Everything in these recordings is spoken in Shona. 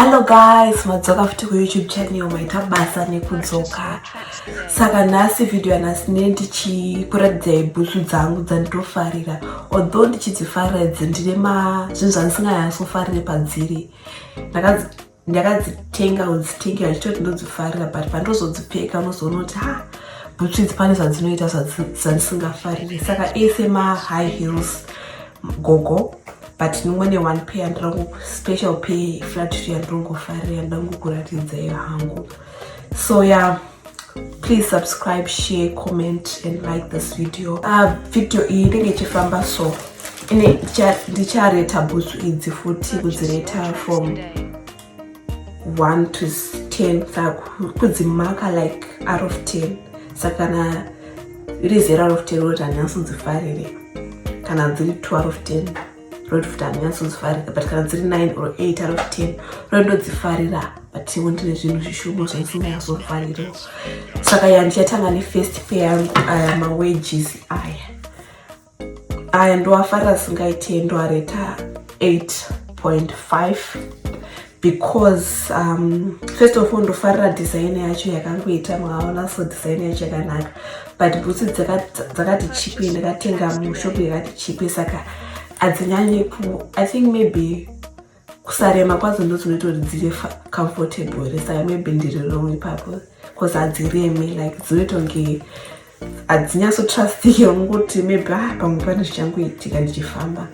hello guys madzoka futi kuyoutube channel maita basa nekudzoka saka nhasi vhidhiyo yanhasi ne ndichikuratidza ibhutsu dzangu dzanditofarira although ndichidzifarira dzindine mazvinhu zvandisinganyatsofarire padziri ndakadzitenga udzitenga ndichitoti ndodzifarira but pandozodzipfeka unozoona kuti ha bhutsu idzi pane zvadzinoita zvandisingafarire saka ese mahigh hills gogo but nimwene one pay andirangu special pay flatry yandirongofarira yandangokuratidzayo hangu so ya yeah. please subscribe share comment and like this video uh, video iyi inenge ichifamba so ine ndichareta bhutsu idzi futi kudzireta from 1 to 10 kudzimaka like out of 10 saka kana iri zero out of 10 rota ndinasondzifarire kana dziri 2 out of 10 road futi handinyatsodzifarira but kana dziri 9 or 8 out of 10 road ndodzifarira but iwo ndine zvinhu zvishoma zvandisingayazofarira saka ya ndichatanga nefirst pay yangu aya mawages aya aya ndoafarira singaite ndoareta 8.5 because um, first of all ndofarira design yacho yakangoita mwaona so design yacho yakanaka but bhutsu dzakati chipe ndakatenga mushopu yakati chipe saka hadzinyanyi ku i think maybe kusarema kwadzo ndodzinoita kuti dziri comfortable saka maybe ndiri wrong ipapo bcause hadziremi like dzinoita kunge hadzinyatsotrustike ungoti maybe ah, pamwe pane zvichangoitika ndichifamba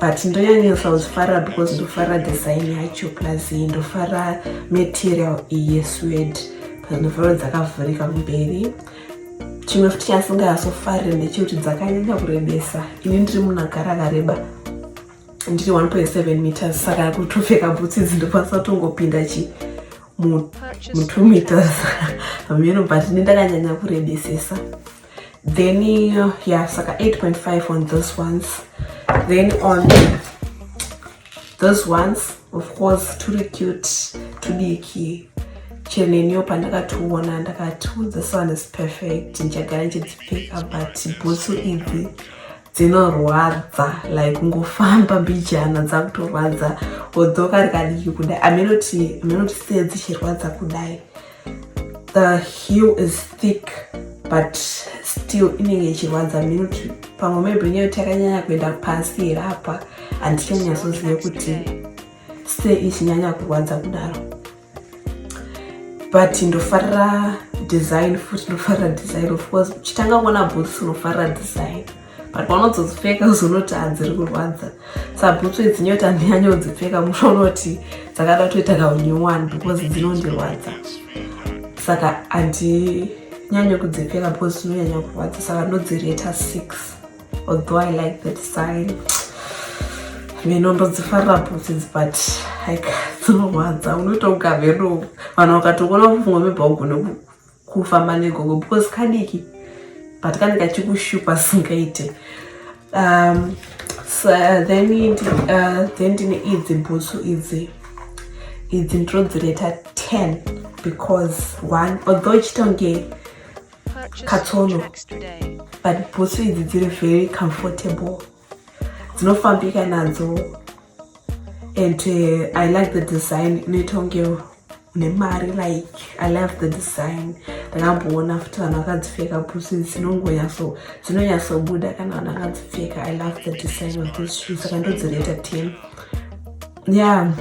but ndonyanyisa kuzvifarira because ndofarira design yacho plus ndofarira material iye swed plus ndofarira dzakavhurika kumberi chimwe futi chasingayasofarire ndechekuti dzakanyanya kurebesa ini ndiri munhu agara akareba ndiri 1.7 meters saka kutopfeka bhutsi idzi ndokwanisa kutongopinda chii mutumeters hameno but ne ndakanyanya kurebesesa then uh, yeah saka 8.5 on those ones then on those ones of course turi cute tudiki chenenio pandakationa ndakati this one is perfect ndichagara ndichidzipfeka but bhutsu idzi dzinorwadza like kungofamba mbijana dzakutorwadza odzoka rikadiki kudai amenoti amenoti se dzichirwadza kudai the heel is thick but still inenge ichirwadza minoti pamwe maybe nyaya kuti yakanyanya kuenda pasi here apa handichanyatsozive kuti se ichinyanya kurwadza kudaro but ndofarira design futi ndofarira design of course uchitanga kuona boots unofarira design but panozodzipfeka uzonoti hadziri kurwadza sabhutsu idzi nyoti handinyanye kudzipfeka musho unoti dzakada kutoita kaunyowani because dzinondirwadza saka handinyanye kudzipfeka because dzinonyanya kurwadza saka ndodzireta six although i like the design mheno ndodzifarira bhutsi but like dzinorwadza unoita ugavedo vanhu vakatokuona kufunga mebva ugone kufamba negogo because kadiki but kane kachikushupa singaite um, so, uh, then uh, then ndine idzi bhutsu idzi idzi ndinodzireta 10 because one although ichitonge katsono but bhutsu idzi dziri very comfortable dzinofambika nadzo and uh, i like the design inoita kunge une mari like i love the design ndakamboona futi vanhu vakadzipfeka bhutsu idzi dzinongonyaso dzinonyatsobuda kana vanhu vakadzipfeka i love the design of this shoe saka ndodzireta ten yeah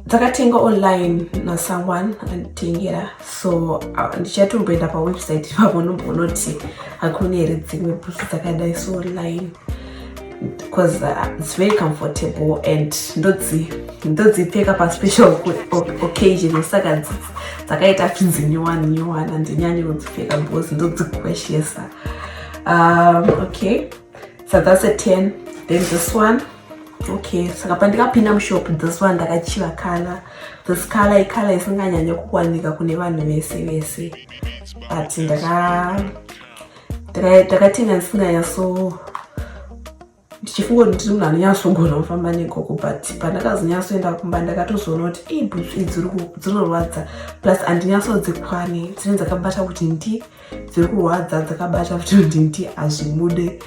dzakatenga online nasomeone anditengera so ndichatomboenda pawebsite ipapo ndombonoti hakuna here dzimwe bhutsu dzakadai so online because uh, it's very comfortable and ndodzi ndodzipfeka paspecial occasion saka dzakaita finzi nyowani nyowani andinyanye kudzipfeka because ndodzigweshesa um, okay so that's a 10 then this one okay saka pandikapinda mushop this one ndakachiva kala this kala ikala isinganyanya kuwanika kune vanhu vese vese but ndakatenga ndisinganyaso ndichifunga kuti ndiri munhu anonyatsogona kufamba nekoko but pandakazonyatsoenda kumba ndakatozoona kuti ibhutsu idziri kudzinorwadza plus andinyatsodzi kwane dzine dzakabata kuti ndi, ndi dziri kurwadza dzakabata kuti ndinti hazvibude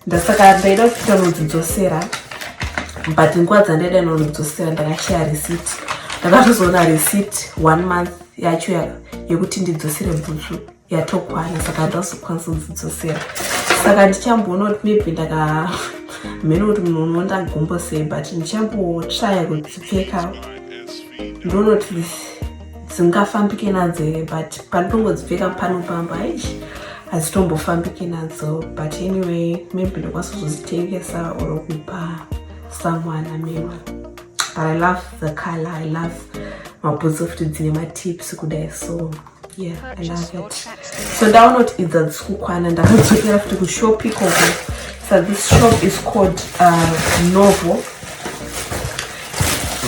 ndasaka ndaida kuita nodzidzosera but nguva dzandaida nonodzosera ndakashaya receipt ndakatozoona receipt one month yacho yekuti ndidzosere bhutsu yatokwana saka ndazokwanisa kudzidzosera saka ndichamboona kuti maybe ndaka mhene kuti munhu unondagumbo sei but ndichambotraya kudzipfeka ndonoti dzingafambike nadzo here but panditongodzipfeka pano pamba aish hadzitombofambike nadzo but anyway maybe ndokwanisa kuzozitengesa or kupa someone amema but i love the color i love mabhutsi ofuti dzine matips kudai so yeah i love it so ndaona kuti idzi hadzisi kukwana ndakadzokera futi kushop ikoko so this shop is called uh, novel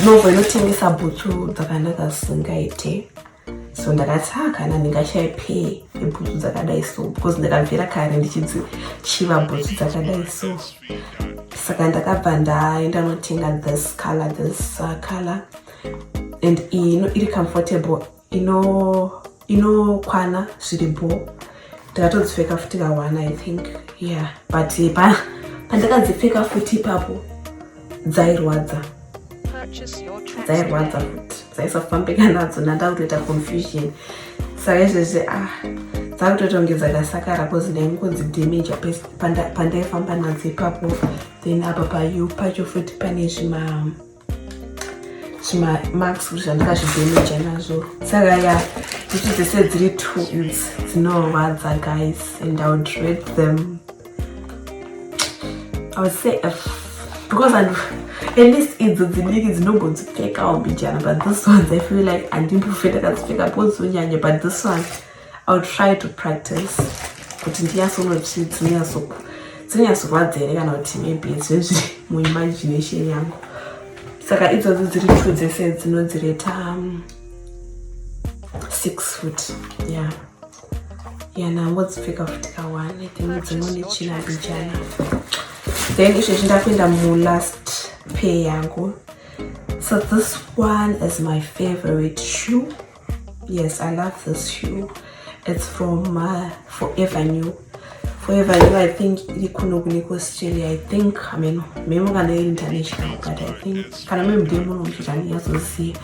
Novo inotengesa bhutsu dzakanaka dzisingaite so ndakati ha kana ndingashaye pay yebhutsu dzakadai so because ndakabvira kare ndichidzichiva bhutsu dzakadai so saka ndakabva ndaenda notenga this color this uh, color and iyi iri comfortable inokwana ino zviri bho ndakatodzipfeka futi ka one i think yeah but pa pandakadzipfeka futi ipapo dzairwadza dzairwadza futi dzaisafambika nadzo nandakutoita confusion saka izvezvi ah dzakutoita kunge dzakasakara bcause ndaingonzi damage pandaifamba nadzo ipapo then apa payu pacho futi pane zvima zvimamarks kuti zvandikazvidhemeja nazvo saka ya ichi dzese dziri twins dzinorwadza guys and i would rate them i would say f because and at least idzo dzidiki dzinongodzipfekawo mbijana but this ones i feel like andimbofe ndakadzipfeka bozonyanya but this one I'll try to practice kuti ndinyatsonoti dzinyatsirwadza here kana kuti maybe zvezviri muimagination yangu saka idzodzo dziri two dzese dzinodzireta um, six foot ya ya nangodzipfeka futi kawane then dzimwe nechina abijana then izvezvi ndakuenda mulast pay yangu so this one is my favorite shoe Yes, I love this shoe. It's from uh, Forever New. Forever New, I think iri kuno kune kuAustralia. I think, I mean, memo kana iri international, but I think kana muri mudee muno muchitani yazoziva.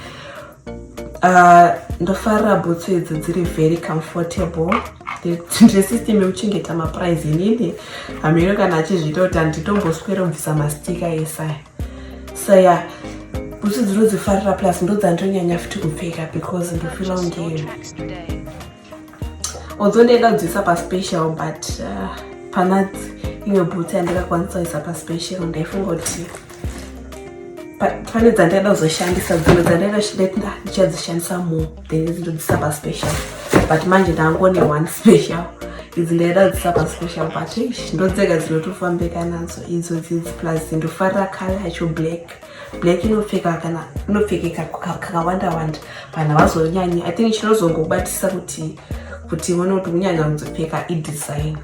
Uh, ndofarira bhutsu idzi dziri very comfortable ndesystem yekuchengeta maprize inini hameno kana achizviita kuti handitomboswera kubvisa mastika esaya so ya yeah. bhutsu dzinodzifarira plus ndodzandonyanya futi kupfeka because ndofila ungeri although ndaida kudziisa paspecial but uh, pana imwe bhutsu yandingakwanisa kuisa paspecial ndaifunga kuti pane dzandaida kuzoshandisa dzimwe dzandaida ndichadzishandisa more then idzi ndodzisapa special but manje ndangone one special idzi ndaida dzisapa special but ish ndodzega dzinotofambeka nadzo idzo dzidzi plus ndofarira kale yacho black black inopfeka kana inopfekeka kakawanda wanda vanhu havazonyanyi i think chinozongobatisa kuti kuti one kuti kunyanya kudzopfeka idesign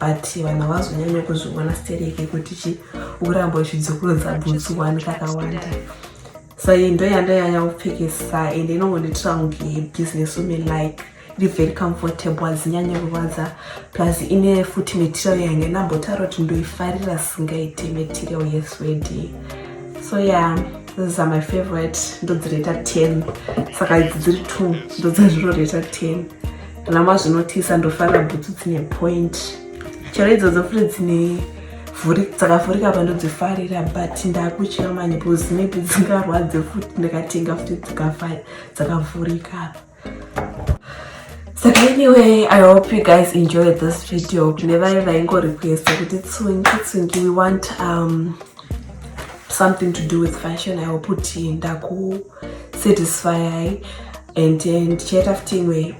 but vanhu havazonyanya kuzviona stereke kuti chi uramba uchidzokurodza bhutsu one kakawanda so iyi ndo yanda yanya kupfekesa ende inongondiitira kunge business women like iri very comfortable hazinyanye kurwadza plus ine futi material yange nambotaura kuti ndoifarira singaite material yeswedi so ya yeah, this are my favorite ndodzireta 10 saka idzi dziri 2 ndodzazvinoreta 10 kana mazvinotisa ndofarira bhutsu dzine point chero idzodzo futi dzine dzakavhurika apa ndodzifarira but ndakutya manje bcause maybe dzingarwadze futi ndakatenga futi dzikafai dzakavhurika apa saka anyway i hope you guys enjoyed this video kune vaye vaingorequesta kuti tsungi tsungi we want um, something to do with fashion i hope kuti ndakusatisfyai and then ndichaita futi imwe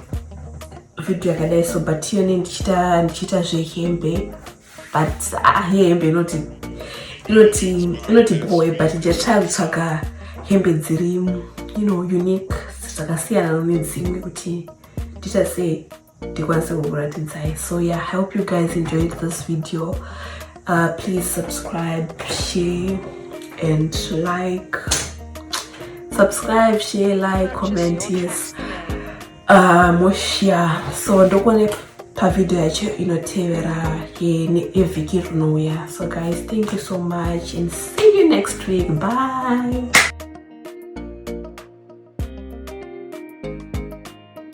video yakadai so but iyone ndichiita zvehembe but ah, hembe inoti inoti inoti boy but ndichatsvaya kutsvaga hembe dziri you know unique zvakasiyana nomedzimwe kuti ndiita sei ndikwanise kukuratidzai so yeah i hope you guys enjoyed this video uh, please subscribe share and like subscribe share like comment yes Ah, moshia so ndokone pavideo yacho inotevera evhiki rinouya so guys thank you so much and see you next week bye